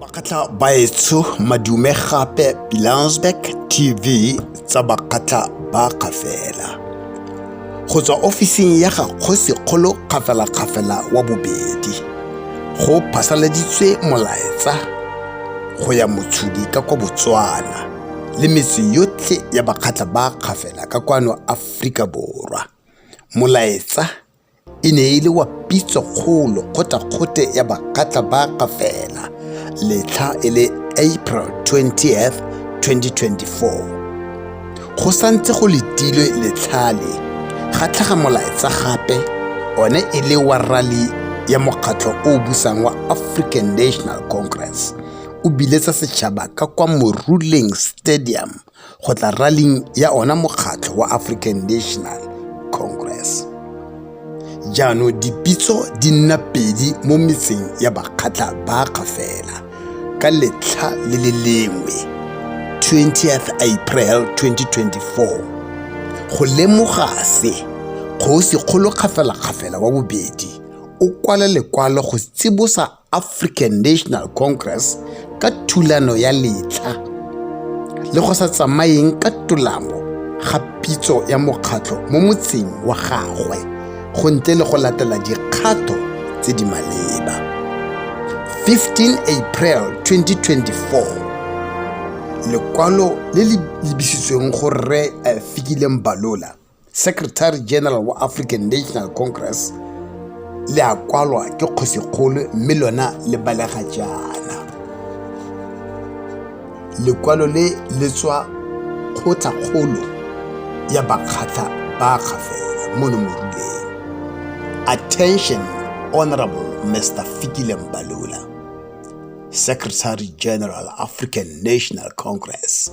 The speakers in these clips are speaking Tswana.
Bakgatla baetsho madume gape Pilansberg TV tsa Bakgatla ba Kgafela. Go tswa ofising ya ga Kgosikgolo Kgafelakgafela wa bobedi, go phasaladitswe molaetsa go ya motshodi ka kwa Botswana le metse yotlhe ya Bakgatla ba Kgafela ka kwano Aforika Borwa. Molaetsa e ne e le wa pitso kgolo kgotsa kgote ya bakgatla ba ka fela letlha e le april 20 2024 go santse go letilwe letlhale ga tlhaga molaetsa gape one e le wa rally ya mokgatlho o o busang wa african national congress o biletsa setšhaba ka kwa moruleng stadium go tla rallyng ya ona mokgatlho wa African National Congress. Jaanong dipitso di nna pedi mo metseng ya bakgatla ba gafela ka letlha le le lengwe 20th April 2024 go lemoga se kgosi kgolo kgafela-kgafela wa bobedi o kwala lekwalo go tsibosa African National Congress ka thulano ya letlha le go sa tsamayeng ka tolamo ga pitso ya mokgatlho mo motseng wa gagwe go ntle le go latela dikgato tse di maleba 15 april 2024 lekwalo le le lebisitsweng go rre eh, fikileng balola secretary general wa african national congress le a kwalwa ke kgosikgolo mme lona le balega jaana lekwalo le le tswa kgotlhakgolo ya bakgatlha ba gafela mono moruleng attention honorable mr fikile mbalula secretary general african national congress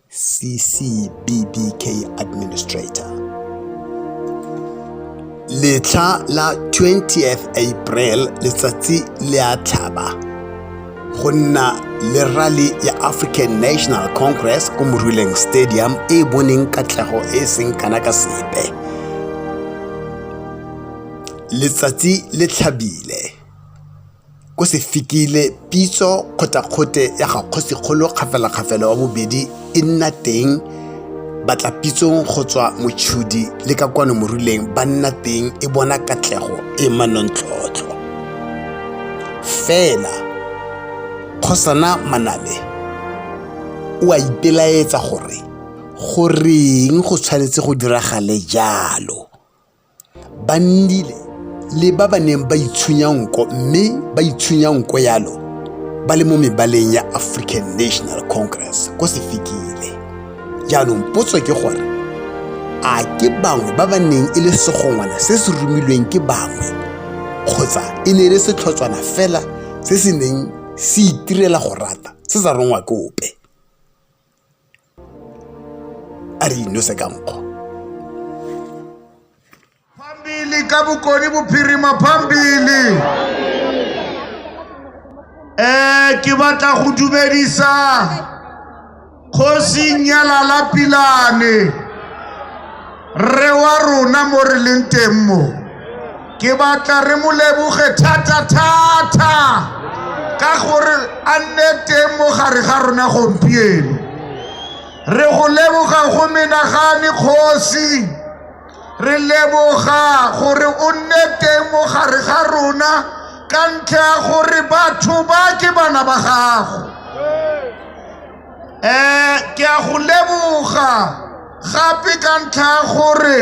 CCBBK Administrator. Letlha la 20th April letsatsi le a tlhaba go nna le rally ya African National Congress ko Moruleng Stadium e e boneng katlego e e seng kana ka sepe. Letsatsi le tlhabile. o se fikile pitso kgotakgote ya ga kgosikgolo kgafelakgafela wa bobedi e nna teng batla pitsong go tswa motšhudi le ka kwano moruleng ba nna teng e bona katlego e manontlhotlho fela kgosana manabe o a ipelaetsa gore goreng go tshwanetse go diragale jalo Ba nnile le ba ba neng ba itshunya nko mme ba itshunya nko yalo ba le mo mebaleng ya African National Congress ko Sefikile. Jaanong potso ke gore a ke bangwe ba ba neng e le segongwana se se romilweng ke bangwe kgotsa e ne e le setlhotswana fela se se neng se itirela go rata se sa rongwa ke ope. a re inose ka nkgo phambili ka bokoni bophirima phambili um ke batla go dumedisa kgosing ya lalapilane rre wa rona mo re leng teng mo ke batla re mo leboge thata-thata ka gore a nne teng mo gare ga rona gompieno re go leboga go menagane kgosi re leboga gore o nne teng mo gare ga rona ka ntlha ya gore batho ba ke bana ba gago um ke a go leboga gape ka ntlha ya gore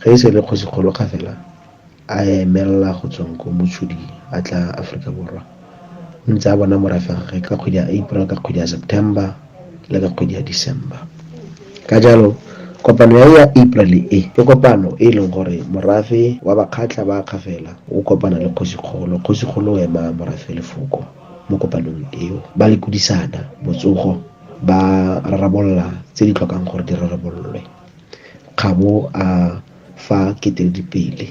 Ge e se le Kgosikgolo ga fela a emelela go tsweng ko Motshodi a tla Aforika Borwa, o ntse a bona morafe wa gagwe ka kgwedi ya April, ka kgwedi ya September le ka kgwedi ya December. Ka jalo kopano ya ya April e, ke kopano e e leng gore morafe wa Bakgatla ba Kgafela o kopana le Kgosikgolo, Kgosikgolo o ema morafe lefoko mo kopanong eo, ba lekodisana botsogo, ba rarabolola tse di tlhokang gore di rarabololwe. Kgabo a fa Keteledi pele.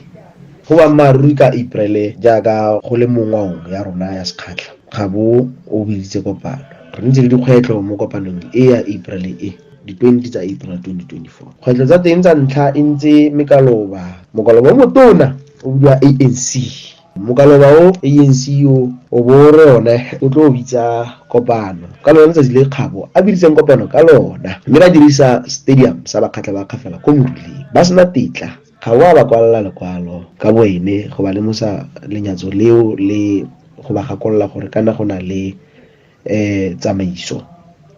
Go boammaaruri ka April jaaka go le mo ngwaong ya rona ya sekgatlha, Kgabo o biditse kopano. Re nnitse le dikgwetlho mo kopanong e ya April e, di 20 tsa April 2024. Kgwetlho tsa teng tsa ntlha e ntse mekaloba. Mokaloba o motona o bidiwa ANC Mokaloba o ANC o o bo o re one o tlo bitsa kopano ka lona letsatsi le Kgabo a biditseng kopano ka lona mme ba dirisa stadium sa Bakgatla ba Kgafela ko Moruleng ba sena tetla ga o a ba kwalela lekwalo ka boene go ba lemosa lenyatso leo le go ba gakolola gore kana go na le um tsamaiso,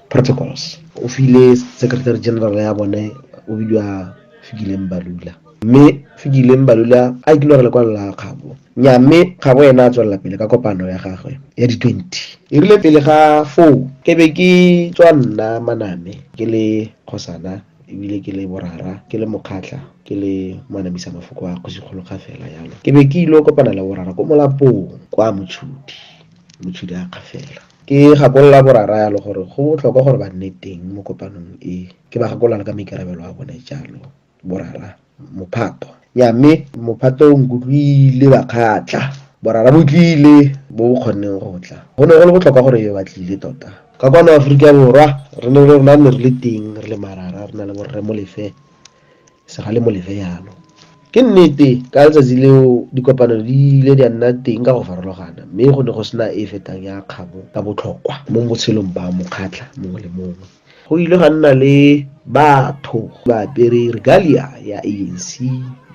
protocols. O file secretary general ya bone o bidiwa Fikile Mbalula mme Fikile Mbalula a ikile gore lekwalo la Kgabo nya mme Kgabo ena a tswelela pele ka kopano ya gagwe ya di-twenty e rile pele ga foo ke be ke tswa nna maname ke le kgosana ebile ke le borara ke le mokgatlha ke le manamisa mafoko a kgosikgolo ga fela yalo ke be ke ile kopana le borara ko molapong kwa motshudi Motshodi a akga fela. Ke gakolola boraraalo gore go botlhokwa gore ba nne teng mo kopanong e. Ke ba gakolola ka maikarabelo a bone, jalo borara mophato. Nnyaa, mme mophato o nkutlwile ba kgatla. Borara bo tlile, bo bo kgonneng go tla. Go ne go le botlhokwa gore e be ba tlile tota. Ka kwano Aforika Borwa, re ne re rona re ne re le teng re le marara, re na le Borre Molefe Segale mo lere yalo. Ke nnete, ka letsatsi leo dikopano di ile di a nna teng ka go farologana, mme go ne go sena e e fetang ya kgabo ka botlhokwa mo botshelong ba mokgatlha mongwe le mongwe. Go ile ga nna le batho ba apere regalia ya ANC,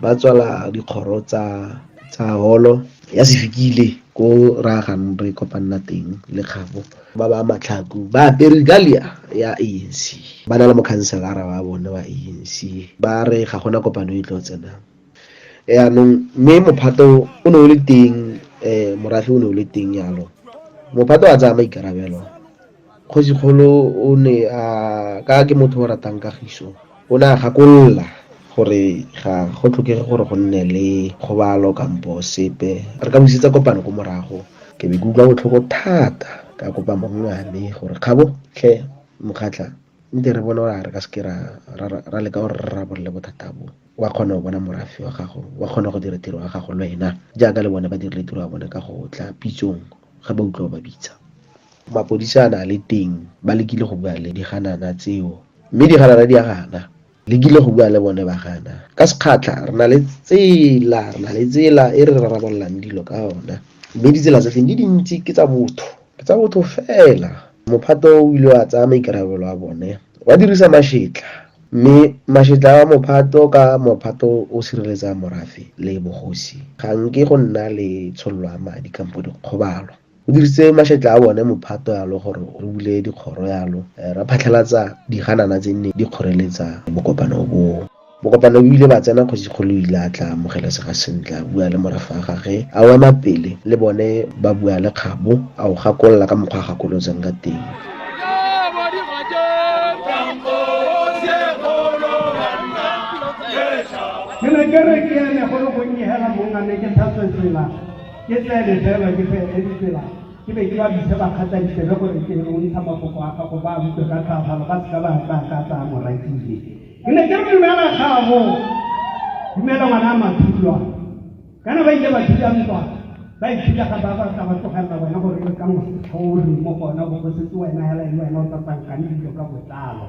ba tswala dikgoro tsa holo ya sefikile ko ra gang re kopanna teng le kgabo. ba ba matlhaku ba apere regalia ya anc ba na le mokhanselara wa bone wa anc ba re ga gona kopano e tlo tsenang yaanong mme mophato o ne o le teng um morafe o ne o le teng yalo mophato a tsaya maikarabelo kgosikgolo o ne a ka ke motho o ratang kagiso O ne a gakolola gore ga go tlhokege gore go nne le kgobalo kampo sepe. Re ka busetsa kopano ko morago. Ke be ke utlwa botlhoko thata ka kopa mong wa me gore, Kgabo, tlhe, Mokgatla, nke re bone gore a re ka seke ra leka gore re rarabolole bothata bo. O a kgona go bona morafe wa gago, o a kgona go dira tiro ya gago lwena, jaaka le bone ba dirile tiro ya bone ka go tla pitsong ga ba utlwa o ba bitsa. Mapodisi a ne a le teng, ba lekile go bua le diganana tseo, mme diganana di a gana. Lekile go bua le bone, ba gana. Ka sekgatlha, re na le tsela, re na le tsela e re rarabololang dilo ka yona. Mme ditsela tsa teng di dintsi, ke tsa botho, ke tsa botho fela. Mophato o ile wa tsaya maikarabelo a bone, wa dirisa mašetla, mme mašetla a mophato ka mophato o sireletsa morafe le bogosi, ga nke go nna le tshololo ya madi kampo dikgobalo. o dirisitse mašetla a bone mophato yalo gore o bule dikgoro yalo eh, ra phatlhalatsa diganana tse nne di kgoreletsa bokopano boo bokopano bo ile ba tsena kgosi kgolo ile a tla amogelesega sentle a bua le morafa wa gage a o ema pele le bone ba bua le kgabo a o gakolola ka mokgwa a gakolotsang ka teng ke ne ke re ke ene go le gonnye hela mongane ke tlhatswe tsela Ke tsene fela ke felele ditsela ke be ke ba bise ba kgatla ditsebe gore ke o ntsha mafoko a gago ba utlwe ka tlhafalo ba seka ba tla ka tsaya morakile ke ne ke re dumela gago dumela ngwana a mathulwa kana ba ile ba thuta ntwa ba ithuta ga ba ba ka ba tlogelela bona gore e ka mosetlha o re mo gona bo go setse wena hela e wena o tsatsang ka dilo ka botlalo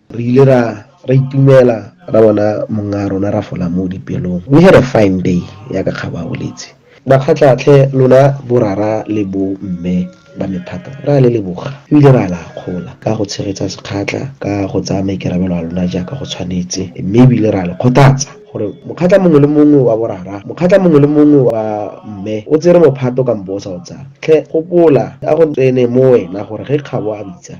Re ile ra ra itumela ra bona mong'a rona ra fola mo dipelong. We had a fine day, ya ka Kgabo a boletse. Makgatla tlhe lona borara le bo mme ba me thata ra le leboga ebile ra le akgola ka go tshegetsa Sekgatla ka go tsaya maikarabelo a lona jaaka go tshwanetse mme ebile ra le kgothatsa gore mokgatla mongwe le mongwe wa borara, mokgatla mongwe le mongwe wa mme o tsere mophato kampo o sa o tsaya. Tlhe gopola a go tsene mo wena gore ge Kgabo a bitsa,